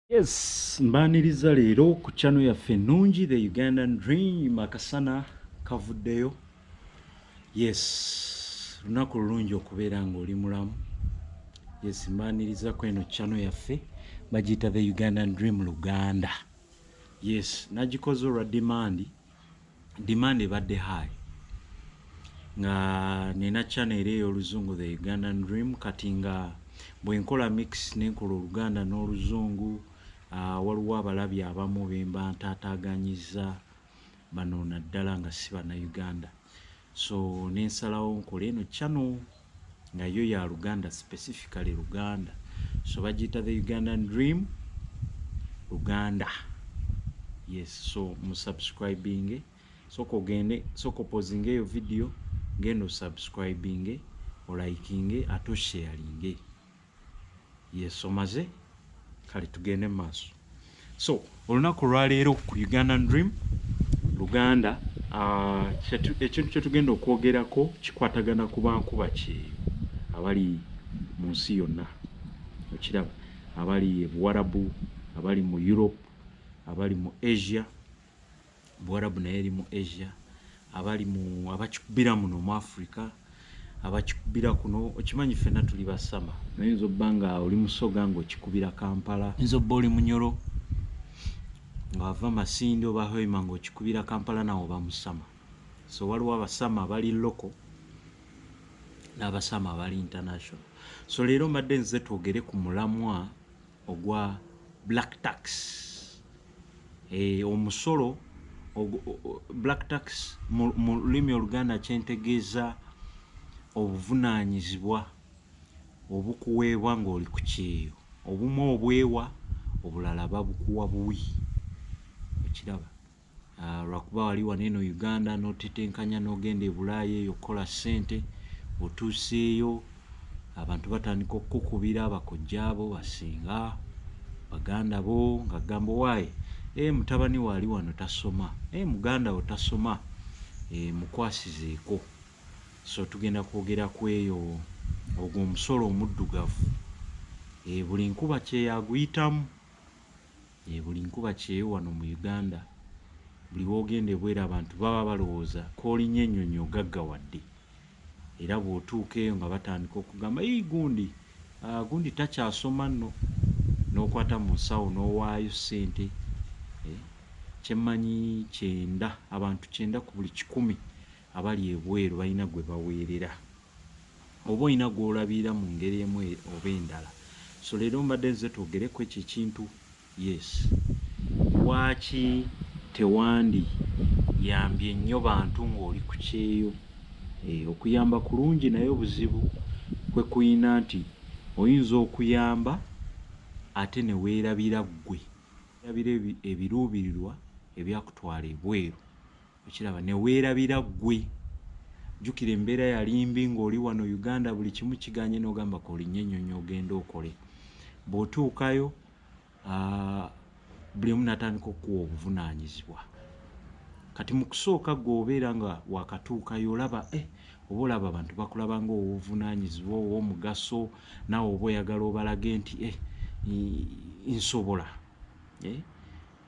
yes mbaniriza leero ku chano yaffe ennungi the ugandan dream akasana kavuddeyo yes lunaku lulungi okubeera ng'oli mulamu yes mbaniriza ku eno chano yaffe bagiyita the ugandan dream luganda yes nagikoze olwa dimandi demand ebadde high nga nina channel eri ey'oluzungu the ugandan dream kati nga bwenkola mix nenkola oluganda n'oluzungu uh, waliwo abalabi abamu bemba ntaataganyiza bano naddala nga si bana uganda so nensalawo nkole eno channel nga yo ya luganda specifically luganda so bagiyita the ugandan dream luganda yes so musubscribing soka ogende soka opozinga eyo video ngendo subscribing olayikinge ate osharinge Yes omaze kale tugende mu maaso. So olunaku olwaleero ku Ugandan Dream Luganda uh, ekintu kye tugenda okwogerako kikwatagana ku bankuba kyeyo abali mu nsi yonna okiraba abali e Buwarabu abali mu Europe abali mu Asia Buwarabu naye eri mu Asia, abali mu abakikubira muno mu Africa, abakikubira kuno okimanyi fena tuli basama. Naye oyinza obba nga oli musoga nga okikubira Kampala. Oyinza obba oli munyoro nga wava Masindi oba Hoima nga okikubira Kampala nawe oba musama. So waliwo abasama abali local n'abasama abali international. So leero mbadde nze twogere ku mulamwa ogwa black tax eh, omusolo black tax mu lulimi oluganda kyentegeeza obuvunaanyizibwa obukuweebwa ng'oli ku kyeyo obumu obwewa obulala babukuwa buwi okiraba Ah, lwakuba wali wano eno uganda notetenkanya nogenda ebulaaya eyo okukola sente otuuseeyo abantu batandika okukukubira bakojja abo basinga baganda bo nga gambo waayi e eh, mutabani waali wano tasoma e muganda wo tasoma e mukwasizeeko so tugenda kwogera ku eyo ogwo omusolo omuddugavu e buli nkuba kyeyaguyitamu Yee buli nkuba kyeyo wano mu Uganda buli wogenda ebweru abantu baba balowooza kolinya enyonyi ogaggawadde era bwotuuka eyo nga batandika okugamba yii gundi aah gundi takyasoma nno nokwata mu nsawo nowaayo sente eeh kyemmanyi kyenda abantu kyenda ku buli kikumi Abali ebweru balina gwe baweerera oba olina gw'olabirira mu ngeri emu oba endala. So leero mbadde nzize twogere ku ekyo ekintu. Yes. Lwaki tewandi yambye nnyo bantu ng'oli ku kyeyo? Eeh, okuyamba kulungi naye obuzibu kwe kulina nti oyinza okuyamba ate ne weerabira ggwe. Weerabira ebiruubirirwa ebyakutwala ebweru. okiraba neweerabira ggwe jjukira embeera yalimbi ng'oli wano uganda buli kimu kiganye n'ogamba kolinnya ennyonyi ogenda okole bw'otuukayo buli omu natandika okukuwa obuvunaanyizibwa kati mu kusooka gwe obeera nga wakatuukayo olaba e eh, oba olaba abantu bakulaba nga owovunaanyizibwa ow'omugaso naawe oba oyagala obalage nti e nsobola eh,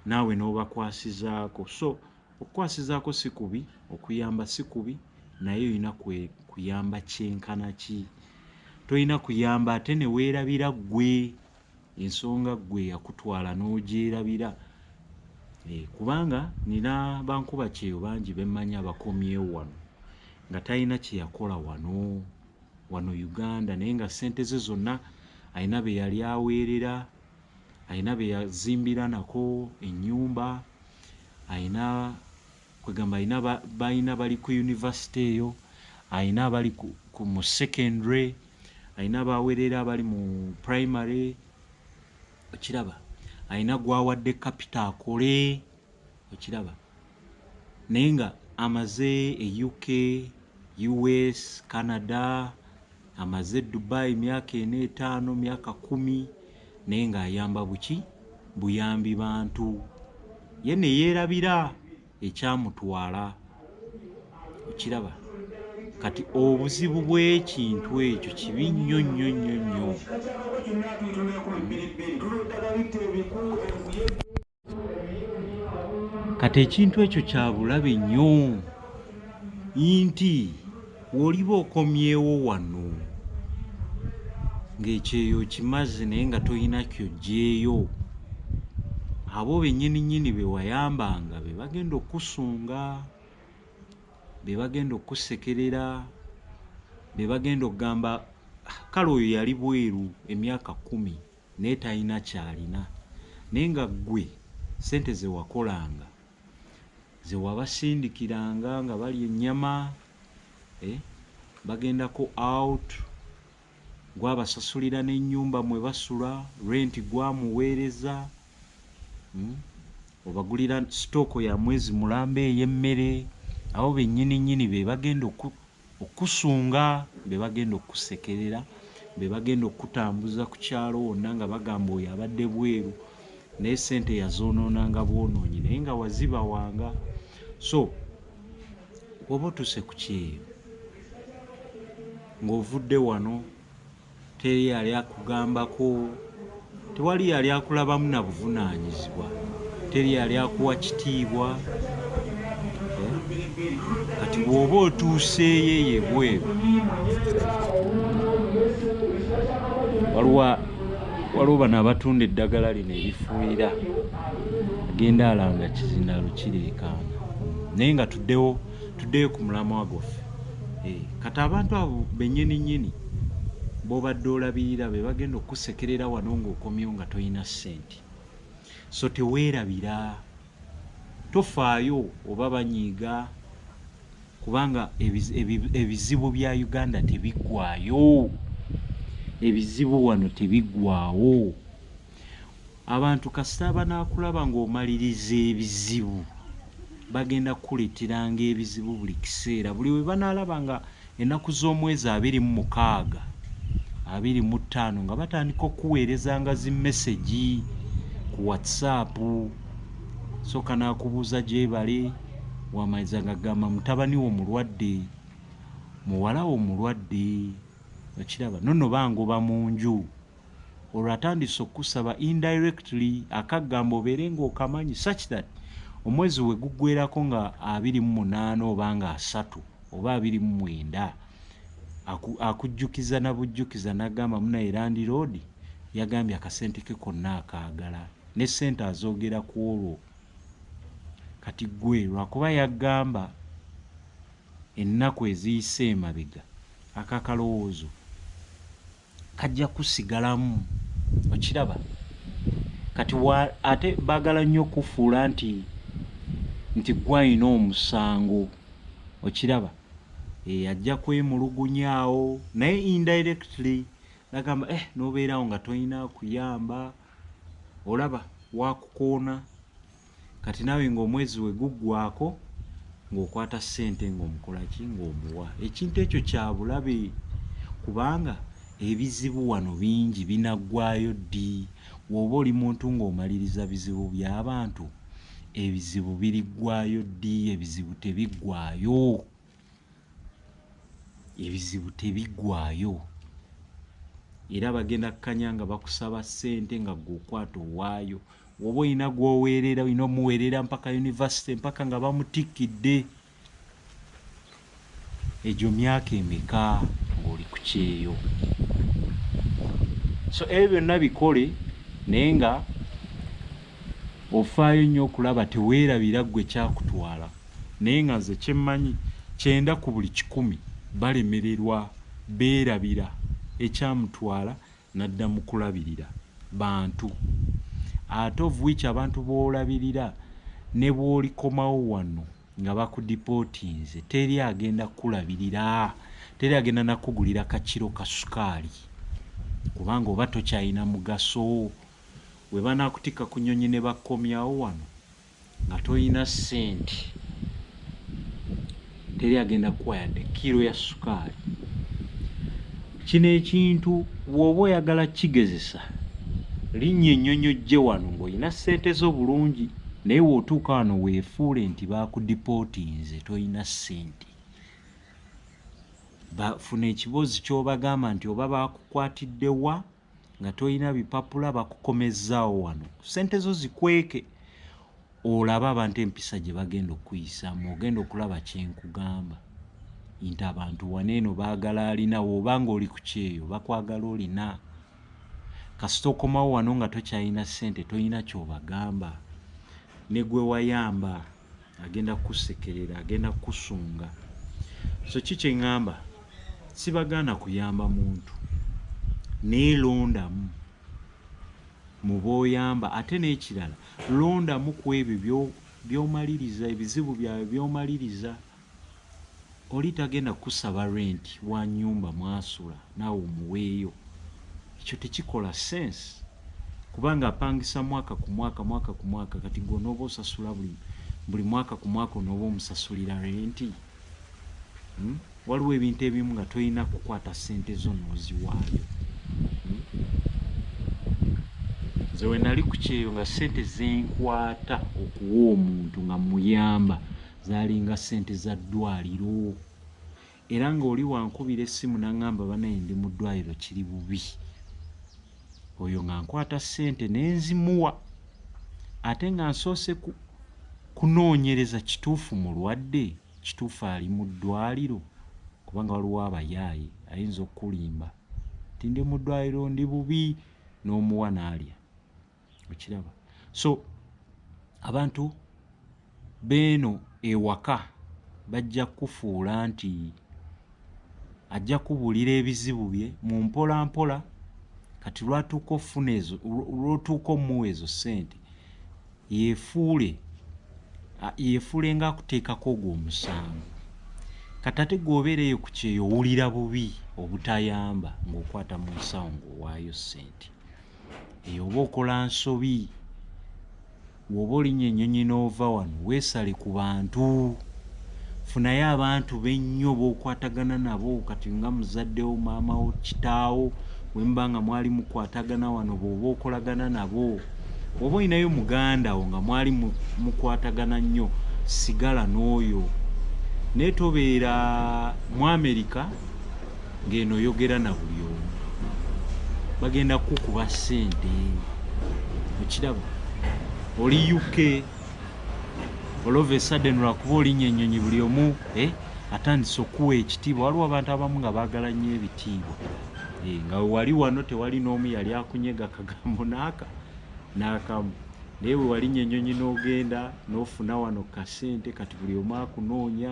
naawe n'obakwasizaako so Okukwasizaako si kubi, okuyamba si kubi naye olina kuyamba kyenkana ki? Tolina kuyamba ate ne weerabira ggwe ensonga ggwe yakutwala n'ogyerabira eh, kubanga nina bankuba kyeyo bangi bemmanyi abakomyewo wano nga talina kye yakola wano wano Uganda naye nga ssente ze zonna alina be yali aweerera alina be yazimbira nako ennyumba alina kwegamba alina balina bali ku univesity eyo alina abali mu secondary alina abawerera abali mu primary okiraba alina gwawadde kapita akole okiraba naye nga amaze e uk us canada Amaze e Dubai myaka ena etaano myaka kumi naye nga ayamba buki buyambi bantu ye ne yeerabira ekyamutwala okiraba kati obuzibu bw'ekintu ekyo kibi nnyo nnyo nnyo nnyo kati ekintu ekyo kya bulabe nnyo nti woliba okomyewo wano ng'ekyeyo kimazi naye nga tolina kyojjeeyo abo bennyini nnyini be wayambanga be bagenda okukusunga be bagenda okukusekerera be bagenda okugamba ah, kale oyo yali bweru emyaka kkumi naye talina kyalina naye nga ggwe sente zewakolanga zewabasindikiranga nga bali ennyama eh, bagendako out gwabasasulira n'ennyumba mwe basula renti gwamuweereza hmm? obagulira sitooko ya mwezi mulamba ey'emmere abo bennyini nnyini be bagenda Okukusunga, be bagenda okukusekerera, be bagenda okukutambuza ku kyalo wonna nga bagamba oyo abadde bweru naye ssente yazoonoonanga bwonoonyi naye nga wazibawanga. So bw'oba otuuse ku kyeyo ng'ovudde wano. Teri yali akugambako, tewali yali akulabamu na buvunaanyizibwa, teri yali akuwa kitiibwa. Eh? Kati bw'oba otuuseeyo eyo ebweru, waliwo bano abatunda eddagala lino erifuuyira agenda alanga kizina lukireekaana naye nga tuddewo tuddeyo ku mulamwa gwaffe eh, kati abantu abo benyini nyini bobadde olabirira be bagenda okukusekerera wano ngaokomyo nga tolina sente so teweerabira tofaayo oba banyiiga kubanga ebizibu bya uganda tebiggwayo ebizibu wano tebiggwawo abantu kasita banaakulaba ng'omaliriza ebizibu bagenda kukuleeteranga ebizibu buli kiseera buli we banaalaba nga ennaku z'omwezi abiri mu mukaaga abiri mu ttaano nga batandika okukuweereza nga zi mesegi ku whatsapp sooka n'akubuuza gyebale wamaliza nga gamba mutabani wo mulwadde muwala wo mulwadde okiraba nonno bangoba mu nju olwo atandise okukusaba indirectly akagamba obeere ngaokamanyi such that omwezi we guggwerako nga abiri mu munaana oba nga asatu oba abiri mu mwenda akujjukiza na bujjukiza nagamba muna erandi roodi yagambye akasente ke konna akaagala ne sente azoogera ku olwo kati gwe lwakuba yagamba ennaku eziyise emabega akakalowoozo kajja kusigalamu okiraba kati ate bagala nnyo okufuula nti nti gwalina omusango okiraba eh, ajja kwemulugunyaawo naye indirectly nagamba eh nobeerawo nga tolina kuyamba olaba wakukoona kati naawe ng'omwezi we guggwaako ng'okwata ssente ng'omukola ki ng'omuwa ekintu ekyo kya bulabe kubanga ebizibu wano bingi binaggwaayo ddi wooba oli muntu ng'omaliriza bizibu by'abantu ebizibu biriggwaayo ddi ebizibu tebiggwaayo ebizibu tebigwayo era bagenda kukanya nga bakusaba sente nga gwe okwata owaayo woba olina gwoweerera olina omuweerera mpaka univesity mpaka nga bamutikkidde egyo myaka emeka ngaoli ku kyeyo so ebyo byonna bikole naye nga ofaayo nnyo okulaba teweerabira ggwe kyakutwala Naye nga nze kyemmanyi kyenda ku buli kikumi balemererwa beerabira ekyamutwala nadda mu kulabirira bantu ate of which abantu b'olabirira ne bw'olikomawo wano nga bakudipootinze teri agenda kukulabirira teri agenda nakugulira kakiro ka sukaali kubanga oba tokyalina mugaso we banakutikka ku nnyonyi ne bakkomyawo wano nga tolina sente teri agenda kukuwa yadde kiro ya sukaali kino ekintu bwoba oyagala kigezesa linnya ennyonyi ojje wano ng'olina sente zo bulungi naye wootuuka wano weefuule nti baakudipootinze tolina sente bafuna ekiboozi kyobagamba nti oba baakukwatidde wa nga tolina bipapula bakukomezzaawo wano sente zo zikweke olaba abantu empisa gye bagenda okukuyisaamu ogenda okulaba kyenkugamba nti abantu wana eno baagala alina woba nga oli ku kyeyo bakwagala olina kasita okomawo wano nga tokyalina sente tolina kyobagamba negwewayamba agenda kukusekerera agenda kukusunga so ki kyeŋŋamba sibagaana kuyamba muntu naye londamu mu b'oyamba ate n'ekirala londamu ku ebyo by'omaliriza ebizibu byawe by'omaliriza Oli tagenda kusaba rent wa nyumba mwasula naawe omuweeyo. Ekyo tekikola sense kubanga apangisa mwaka ku mwaka mwaka ku mwaka kati gwe onooba osasula buli buli mwaka ku mwaka onooba omusasulira renti? Hmm? Waliwo ebintu ebimu nga tolina kukwata ssente zo n'oziwaayo. Hmm? Nze we nali ku kyeyo nga ssente zenkwata okuwa omuntu nga muyamba zalinga ssente za ddwaliro era ng'oli wankubira essimu naŋŋamba banaye ndi mu ddwaliro kiri bubi oyo nga nkwata ssente ne nzimuwa ate nga nsoose kunoonyereza kituufu mulwadde kituufu ali mu ddwaliro kubanga waliwo abayaaye ayinza okukulimba nti ndi mu ddwaliro ndi bubi n'omuwa n'alya okiraba so abantu beeno ewaka bajja kukufuula nti ajja kubuulira ebizibu bye mu mpola mpola kati lwatuuka ofuna ezo lwotuuka omuwa ezo ssente yefuule yefuule nga akuteekako ogwo omusango kati ate gweobeera eyo ku kyeyo owulira bubi obutayamba ng'okwata mu nsawo ng'owaayo ssente eyo oba okola nsobi woba olinya enyonyi nova wano wesale ku bantu funayo abantu bennyo bokwatagana nabo kati nga muzaddewo maamawo kitaawo wemuba nga mwali mukwatagana wano boba okolagana nabo oba olinayo muganda wo nga mwali mukwatagana nnyo sigala n'oyo naye tobeera mu amerika ng'eno oyogera na buli omu bagenda kukuba ssente okiraba oli uk olova esaden lwakuba olinya ennyonyi buli omu eh, atandise okuwa ekitiibwa waliwo abantu abamu nga baagala nnyo ebitiibwa eh, nga wali wano tewali n'omu yali akunyega kagambo naaka naakamu naye wewalinya ennyonyi n'ogenda n'ofuna wano kasente kati buli omu akunoonya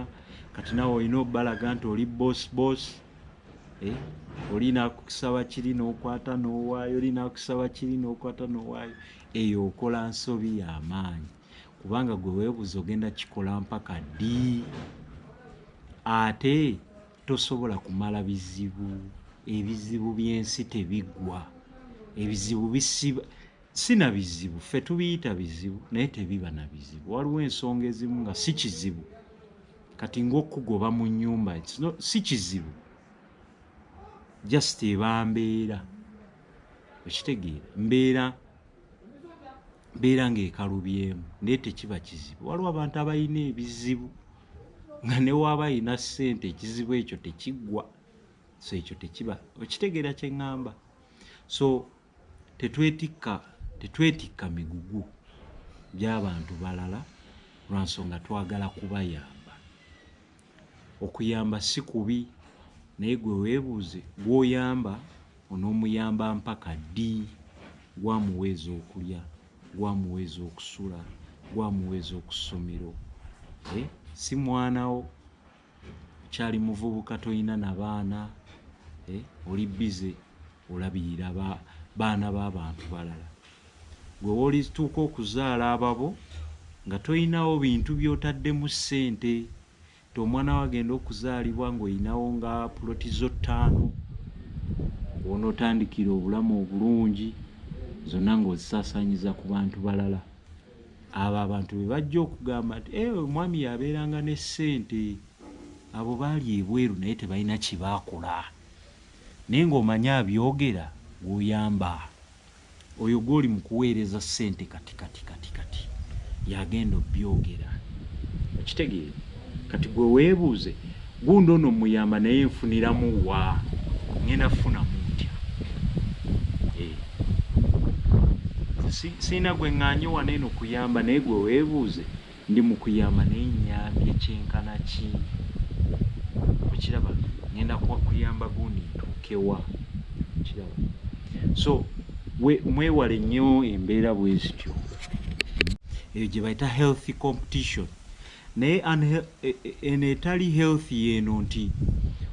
kati nawe olina obalaga nti oli boss boss eh? olina kusaba kiri nokwata nowaayo olina kusaba kiri nokwata nowaayo eyo okola nsobi yamaanyi kubanga gwe webuuza ogenda kikola mpaka ddi ate tosobola kumala bizibu ebizibu byensi tebigwa ebizibu bisiba si na bizibu ffe tubiyita bizibu naye tebiba na bizibu waliwo ensonga ezimu nga si kizibu kati ngaokugoba mu nyumba si kizibu just eba mbeera okitegeera mbeera mbeera ngaekalubyemu naye tekiba kizibu waliwo abantu abalina ebizibu nga newaaba alina ssente ekizibu ekyo tekiggwa so ekyo tekiba okitegeera kyeŋŋamba so tetwetikka tetwetikka migugu gy'abantu balala lwa nsonga twagala kubayamba okuyamba si kubi naye gwe weebuuze gw'oyamba onoomuyamba mpaka ddi gwamuwa ez'okulya gwamuwa ez'okusula gwamuwa ez'oku ssomero eh, si mwanawo kyali muvubuka toyina na baana eh, oli bize olabirira baana b'abantu balala gwe wolituuka okuzaala ababo nga toyinawo bintu byotaddemu ssente ti omwana wo agenda okuzaalibwa ng'oyinawo nga puloti zo ttaano onootandikira obulamu obulungi zonna ng'ozisaasanyiza ku bantu balala abo abantu be bajja okugamba nti e omwami yabeeranga ne ssente abo baali ebweru naye tebalina kyebakola naye ngaomanye abyogera gwoyamba oyo gwoli mu kuweereza ssente kati kati kati kati yagenda obyogera okitegeera kati gwe weebuuze Gundi ono muyamba naye nfuniramu wa ngenda funa mutya eh. siina gwe ŋŋanye wano eno kuyamba naye gwe weebuuze ndi mu kuyamba naye nnyambye kyenkana ki okiraba ngenda kuyamba gundi ntuukewa okiraba so mwewale nnyo embeera bwe zityo eyo gye bayita healthy competition naye e, e, eno etali health yeeno nti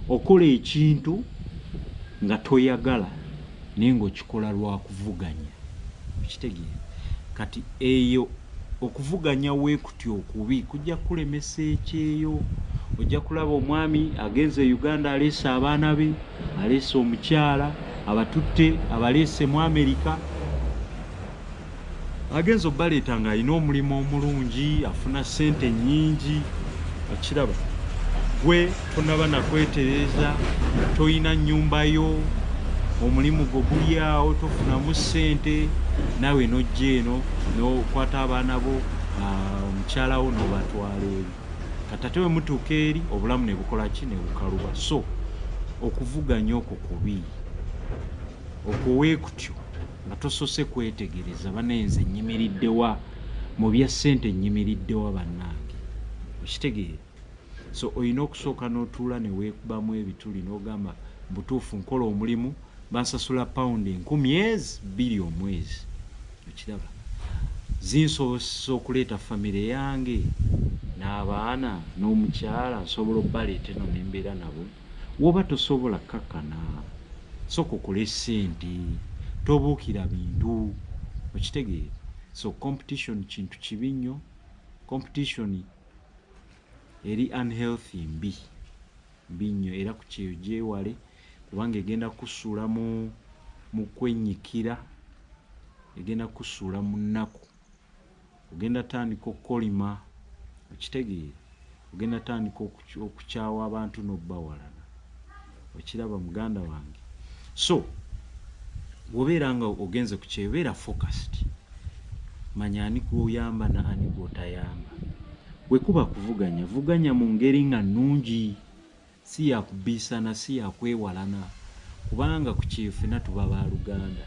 okola ekintu nga toyagala naye ngaokikola lwakuvuganya okitegeera kati eyo okuvuganya wekuti okubi kujja kukulemesa ekyeyo ojja kulaba omwami agenze e uganda aleese abaana be aleese omukyala abatutte abaleese mu amerika agenza obaleeta nga alina omulimu omulungi afuna sente nyingi okiraba gwe tonaba nakwetereza tolina nyumba yo omulimu gwo gulyawo tofunamu sente nawe nojja eno nokwata abaana bo ah, omukyala wo nobatwala eri katate wemutuuka eri obulamu nebukola ki nebukaluba so okuvuganya okwo kubi okwo wekutyo nga tosose kwetegereza banaye nze nyimiriddewa mu bya ssente nyimiriddewa bannange okitegeera so olina okusooka n'otuula ne weekubamu ebituli n'ogamba butuufu nkola omulimu bansasula pawundi enkumi ezi bbiri omwezi okiraba zinsobosesa okuleeta famire yange n'abaana n'omukyala nsobola obbaleeta eno nembeera nabo Woba tosobola kakana soka okole sente tobukira bintu okitegeera so competition kintu kibi nnyo competition eri unhealthy mbi mbi nnyo era ku kyeyo gyewale kubanga egenda kusuula mu mu kwenyikira egenda kusuula mu nnaku ogenda tandika okukolima okitegeera ogenda tandika okukyawa abantu nobawalana okiraba muganda wange so wobeera nga ogenze ku kyebeera focused manya ani gwoyamba na ani gwotayamba wekuba kuvuganya vuganya mu ngeri nga nungi Si ya kubbiisana, si ya kwewalana, kubanga ku kyeyo ffena tuba baaluganda.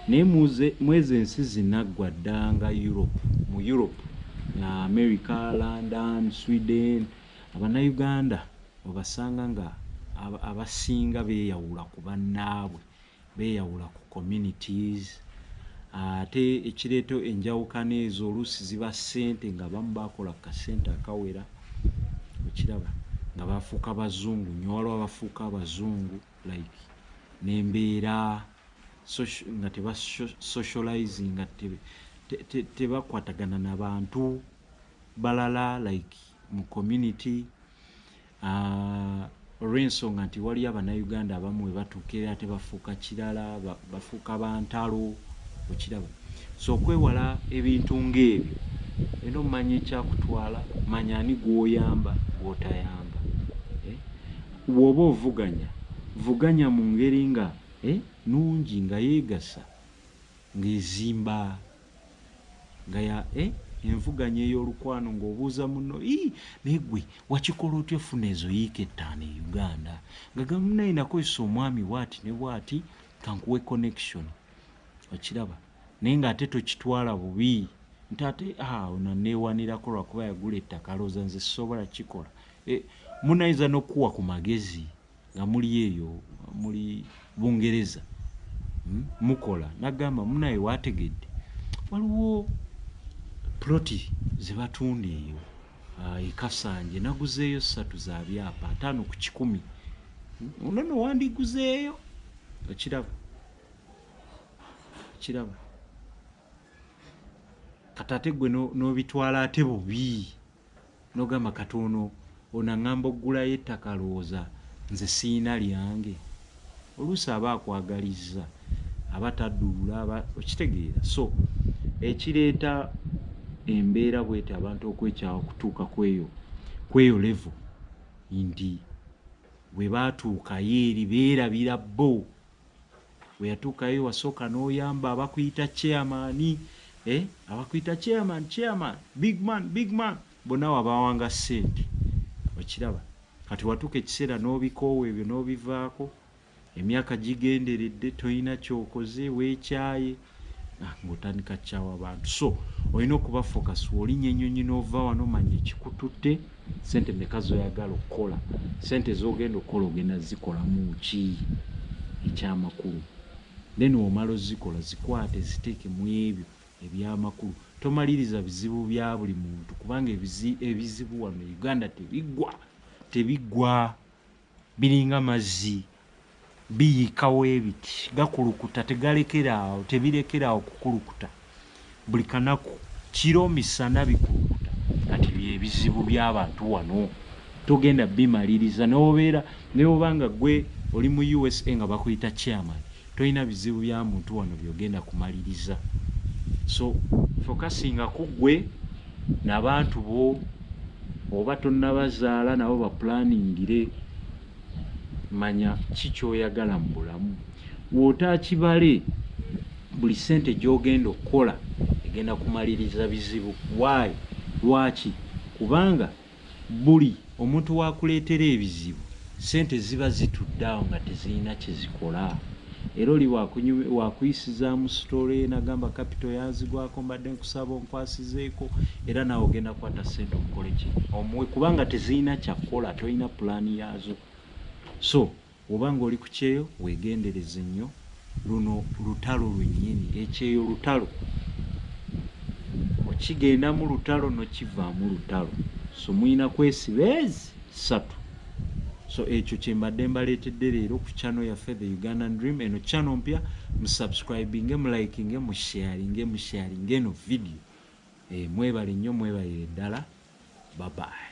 Naye muze, mw'ezo ensi zinaggwa dda nga Europe, mu Europe, America, London, Sweden, Abannayuganda obasanga nga abasinga beeyawula ku bannaabwe. beyawula ku communities ate ekireeta enjawukana ezo oluusi ziba ssente nga bamu bakola ku kasente akawera okiraba nga bafuuka bazungu nyo waliwo abafuuka abazungu like nembeera nga teba socializing nga tebakwatagana nabantu balala like mu community olw'ensonga nti waliyo abannayuganda abamu we batuuka era ate bafuuka kirala bafuuka bantalo okiraba so okwewala ebintu ng'ebyo era omanya ekyakutwala manya ani gw'oyamba gw'otayamba eh? bw'oba ovuganya vuganya mu ngeri nga eh, nungi nga yeegasa ng'ezimba nga ya eh, envuganya ey'olukwano ng'obuuza muno ii naye gwe wakikola otya ofuna ezo yiika ettaano e uganda nga gamunaye nakozesa omwami bwati ne bwati kankuwe connection okiraba naye ng'ate tokitwala bubi nti ate ah, ono neewanirako lwakuba yagula ettaka alowooza nze sisobola kikola eh, munayinza n'okukuwa ku magezi nga muli eyo muli bungereza hmm, mukola nagamba munaye wategedde waliwo ploti zebatunda eyo ah, ekasanje naguzeeyo satu za byapa ataano ku kikumi hmm, nono wandiguzeeyo okiraba okiraba kati ate gwe n'obitwala no ate bubi n'ogamba kati ono ono aŋŋamba okugulayo ettaka lowooza nze siina lyange oluusi aba akwagalizza aba taduula aba okitegeera so ekireeta embeera bwete abantu okwekyawa okutuuka kweyo kweyo levo nti bwe baatuukayo eri beerabira bo weyatuukayo wasooka n'oyamba abakuyita chairman eh? abakuyita chairman chairman big man big man bonna wabawanga sente okiraba kati watuuka ekiseera n'obikoowa ebyo n'obivaako emyaka gigenderedde tolina kyokoze weekyaye Ah, ng'otandika kukyawa abantu so olina okuba focus wolinya enyonyi nova wano manya ekikututte sente meka zoyagala okukola sente zogenda okukola ogenda zikolamu ki ekyamakulu then omala ozikola zikwate ziteeke mu ebyo ebyamakulu tomaliriza bizibu bya buli muntu kubanga ebizibu wano e uganda tebigwa tebigwa Biringa mazzi biyika webiti gakulukuta tegalekera awo tebirekera awo kukulukuta buli kanaku kiro misana bikulukuta kati byebizibu byabantu wano togenda bimaliriza nobeera newobanga gwe oli mu usa nga bakuyita chairman Tolina bizibu bya muntu wano byogenda kumaliriza so fokasinga kuggwe nabantu bo oba tonabazaala nabo baplaningire manya ki kyoyagala mu bulamu wootakibale buli ssente gyogenda okukola egenda kumaliriza bizibu waayi lwaki kubanga Buli omuntu w'akuleetera ebizibu, ssente ziba zitudde awo nga tezirina kye zikola. Era oli waakuyisizaamu sitole n'agamba kapito yanzigwako mbadde nkusaba onkwasizeeko era naawe ogenda kukwata ssente omukole ki? Omuwe kubanga tezirina kya kukola, tolina pulaani yaazo. So. Woba nga oli kukyeyo wegendereze nyo luno lutalo lwenyini ekyeyo lutalo okigendamu lutalo nokivamu lutalo so muyina kwesiba ezi satu so ekyo kyembadde mbaletedde leero ku channel yaffe the ugandan dream eno channel mpya musubscribinge mulikinge musharinge musharinge eno video e, mwebale nnyo mwebalire ddala babayi